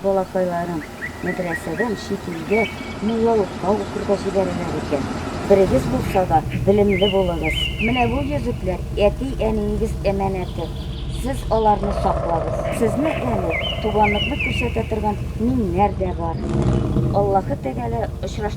Балакайларым, мәдрәсәдән чит илгә муллалыкка укырга җибәрәләр икән. Берегез булса да, белемле булыгыз. Менә бу йөзекләр әти-әниегез әманәте. Сез аларны саклагыз. Сезне әле туганлыкны күрсәтә торган миңнәр дә бар. Аллаһы Тәгалә очраш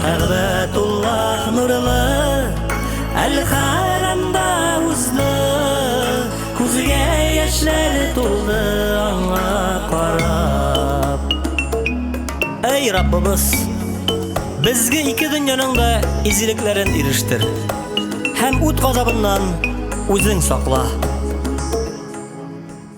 Кәгъбәтуллах нурлы, Әл-Хәрәмдә узды, Күзгә яшьләр тулды аңа карап. Әй Раббыбыз, безгә ике дөньяның да изилекләрен ирештер һәм ут газабыннан үзең сакла.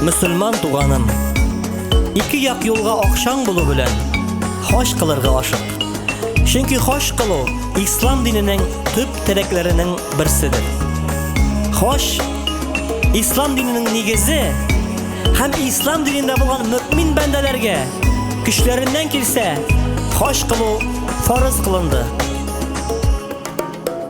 Мөселман туганым, ике як юлга акчаң булу белән хаҗ кылырга ашык. Чөнки хаҗ кылу ислам диненең төп терәкләренең берседер. Хаҗ ислам диненең нигезе һәм ислам динендә булган мөмин бәндәләргә көчләреннән килсә хаҗ кылу фарыз кылынды.